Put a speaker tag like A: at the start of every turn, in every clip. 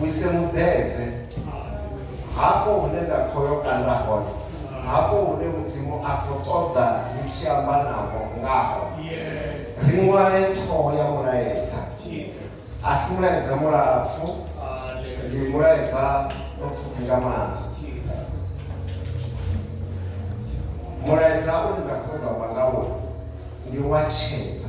A: Wise mudzedze hafho hune nda khou yo kanda hone hafho hune mudzimu a khou ṱoḓa ndi tshi amba navho ngaho ri ṅwale ṱhoho ya mulaedza a si mulaedza mulapfu ndi mulaedza mupfufhi nga maanḓa mulaedza une nda khou ṱoḓa amba ngawo ndi wa tshedza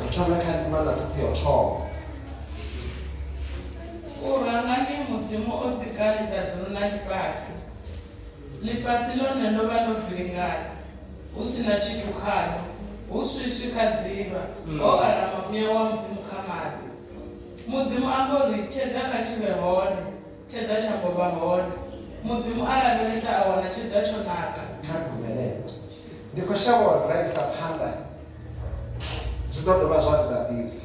A: Ri thome kha ndima na ṱhuphu ya u thoma.
B: U ranga ndi Mudzimu o sika ḽiṱaḓulu na ḽifhasi. Ḽifhasi ḽone ḽo vha ḽo vilingana, hu si na tshithu khaḽo, hu swiswi kha dzivha, ho alama muya wa Mudzimu kha maḓi. Mudzimu a mbo ri tshedza kha tshi vhe hone, Tshedza tsha ngo vha hone. Mudzimu a lavhelesa a wana tshedza tsho naka. Kha gomelelo.
A: Ndi khou shavha uri ra isa phanḓa zwi ḓo dovha zwa ri ḓaḓisa.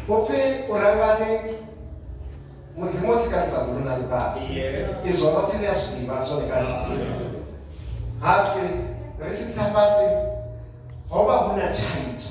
A: Upfi u rangani Mudzimu o sika ḽiṱaḓulu na ḽifhasi. Izwo roṱhe ri a zwi ḓivha zwone kale. Hapfi ri tshi tsa fhasi ho vha hu na thaidzo.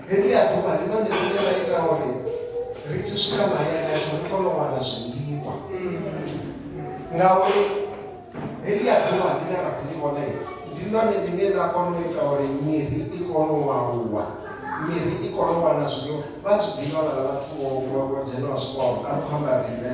A: Heḽia ḓuvha ndi ḽone ḽine ḽa ita uri ri tshi swika mahayani ashu ri kone u wana zwiḽiwa ngauri heḽia ḓuvha ḽine ra khou ḽi vhona ndi ḽone ḽine ḽa kona u ita uri miri i kone u aluwa miri i kone u wana zwiḽiwa vha zwi ḓivha vhala vhathu vho dzhenaho zwikolo a ri khou amba riṋe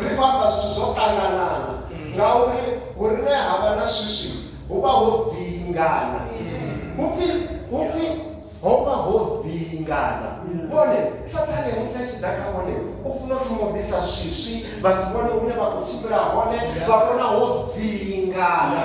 A: ri khou amba zwithu zwo ṱanganana ngauri vhurine ha vha na swiswi hu vha ho vilingana upfi upfi ho vha ho vilingana vhone sathane musi a tshi ḓa kha vhone u funa u thoma u ḓisa swiswi vha si vhone hune vha khou tshimbila hone vha vhona ho vilingana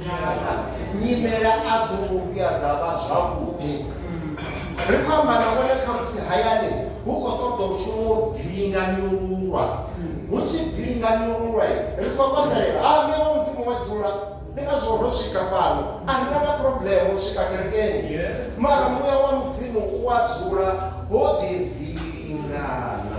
A: Nyasa, nyimele a dzo ngo vhuya dza vha zwavhuḓi. Ri khou amba na vhone khamusi hayani hu khou ṱoḓa u thoma u vilinganyululwa. Hu tshi vilinganyululwa, ri khou konḓelela, Ha, Muya wa Mudzimu wa dzula. Ndi ngazwo ro swika fhano. A ri na na phurobleme u swika kerekeni. Mara Muya wa Mudzimu u a dzula ho ḓi vilingana.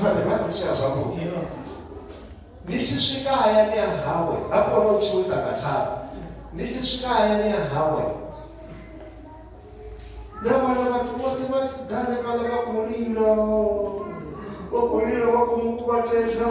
A: vhane vha ḓitshea zwavhuḓi ni tshi swika hayani ya hawe ha kona u tshiwisa nga thanga ni tshi swika hayani ya hawe na wana vhathu vhoṱhe vha tshi ḓa hanefhaḽa vha khou lila vha khou lila vha khou mu kuvhatedza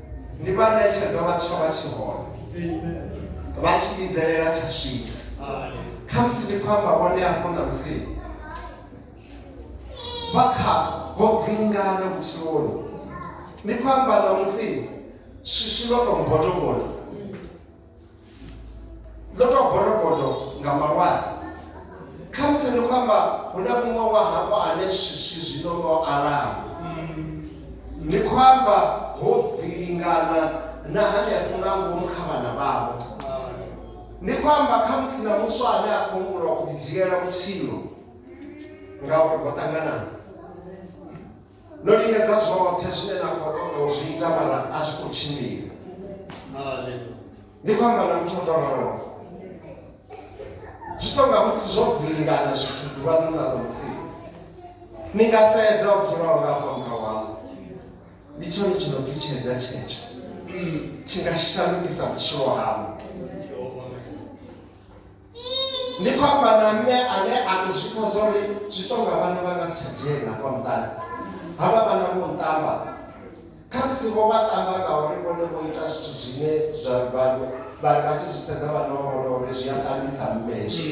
A: ndi vha ṋetshedza vha tsha vha tshi hone vha tshi vhidzelela tsha swika kha musi ndi khou amba vhone hafho na musi vha kha vho vingana vhutshiloni ndi khou amba na musi swiswi vha tou mbodobodo ndo to gorogodo nga malwadze khamusi ni khou amba hu na muṅwe wa hafho ane swiswi zwino no alaho ni khou amba ho bvilingana na hanefho nga ngomu kha vhana vhavho ni khou amba khamusi na muswa ane a khou humbula u ḓidzhiela vhutshilo ngauri ho ṱanganana No lingedza zwoṱhe zwine na khou ṱoḓa u zwi ita mara a zwi khou tshimbila ni khou amba na muthu o tou raloho zwi tou nga musi zwo vilingana zwithu ḓuvha ḽo na ḽo mutsini ni nga sedza u dzula u ngafha murahu wau ndi tshone tshi no pfi tshedza tshetsho tshi nga shandukisa vhutshilo hau Ndi khou amba na mme ane a tou zwi pfa zwa uri zwi tou nga vhana vha nga si tsha dzhena hafha muṱani. Havha vhana vho nṱamba, khamusi vho vha ṱamba ngauri vhone vho ita zwithu zwine zwa vha vha vha tshi zwi sedza vhana vha vhona uri zwi a ṱambisa mme hezwi.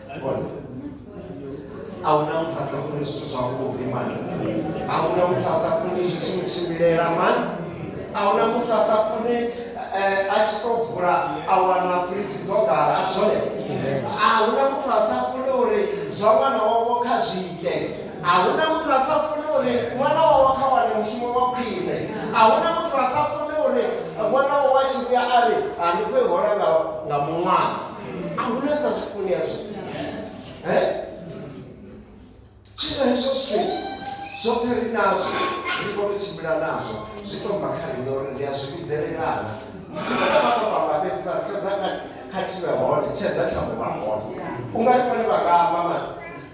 A: ahuna muthu a sa funi zwithu zwavhuḓi mani ahuna muthu a sa funi zwi tshi mutshimbilela mani ahuna muthu a sa funi eh, a tshi to vula a wana fridge dzo ḓala a zwone ahuna muthu a sa funi uri zwa ṅwana wavho kha zwi ite ahuna muthu a sa funi uri ṅwana wavho kha wane mushumo wa khwine ahuna muthu a sa funi uri ṅwana wavho a tshi vhuya a ri a ndi khou i hola nga muṅwazi a hu na sa zwi funi hezwo zwino hezwo zwithu zwoṱhe ri nazwo ri kho to tshimbila nazwo zwi to bva kha riṋe uri ri a zwi vhidzelelana dzina na vhaṅwe vhaṅwe fhedzi vha tshedza kha tshivhe hone tshedza tsha muvha hone u nga ri vhone vha nga amba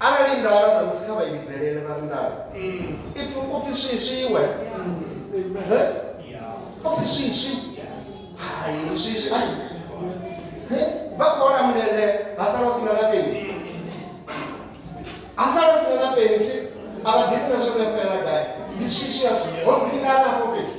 A: arali nḓala ṋamusi kha vha i vhidzelele vha ri nḓala ipfi u pfi swiswiwe u pfi swiswi hai swiswi ai vha khou ola mulele ha sala u sina na peni ha sala u sina na peni thi a vha ḓivhi na zwo vhefhelela gai ndi swiswi a ho dzimina nafho fhethu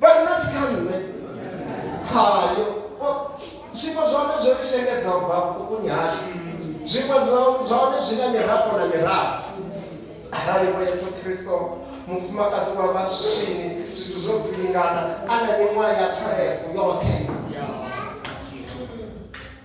A: vha ri not kha nṋe hayo zwiṅwe zwa hone zwo ri shengedza u bva vhuṱukuni hashu zwiṅwe zwa hone zwi na mirafho na mirafho arali vho yesu kristo mufumakadzi wa vhaswini zwithu zwo vilingana a na miṅwaha ya kharefu yoṱhe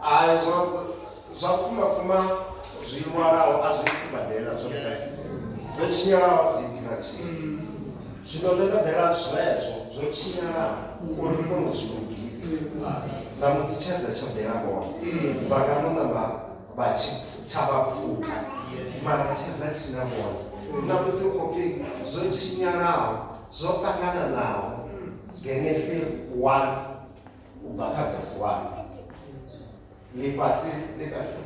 A: hai zwa zwa kuma kuma zwi lwalaho a zwi sibadela zwo dzo tshinyalaho dzi ḓira tshini zwino ndo ṱoḓela zwezwo zwo tshinyalaho uri ndi kone u zwi lugisa dza musi tshedza tsho ḓela vhone vha nga ḓo namba vha tshi tsha vha pfuka mara tshedza tshi na vhone na musi u khou pfhi zwo tshinyalaho zwo ṱangananaho Genesi 1 kubva kha vhesi 1 lifhasi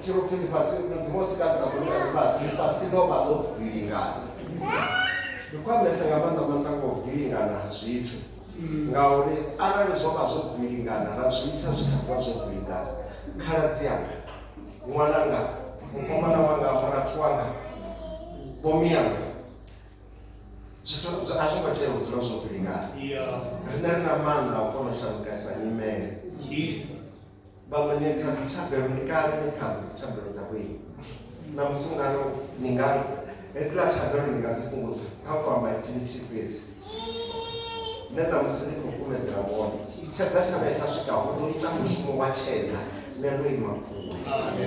A: tshiri upfi lifhasi mudzimu o sika ḓiraḓulu na lifhasi lifhasi ḽo vha ḽo vilingana ndi khwamesa nga maanḓa maanḓa ngo vilingana ha zwithu ngauri arali zwo vha zwo vilingana ra zwi itsha zwi kha ḓivha zwo vilingana khaladzi yanga ṅwananga mukomana wanga murathu wanga vhomi yanga zwithu a zwo ngo tea u dzula zwo vilingana rine ri na maanḓa u kona u shandukesa nyimele vhaṅwe ni kha dzi thabelo ni kale ni kha dzi dzi thabelo dza kweli na musi ungano ni nga hedziḽa thabelo ni nga dzi fhungudza kha u amba ipfi lithihi fhedzi ne na musi ni khou kumedzela vhone tshedza tshavha ya tsha swika hu ḓo ita mushumo wa tshedza ne ndo ima kule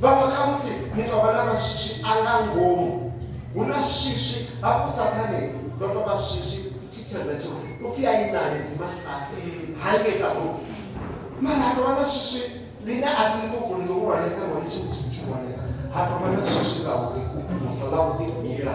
A: vhaṅwe kha musi muthu a vha na mashishi a nga ngomu hu na shishi hafhu sathane ndo to vha shishi tshitshedza tsho upfi a inale dzimasase hange kaho mara ha tovha na shishi ḽine a si ḽiṱuku ḽi ḽihulwanesa ngori tshi tshi tshihulwanesa ha tovha na shishi ḽa u ḓikumusa ḽa u ḓikudza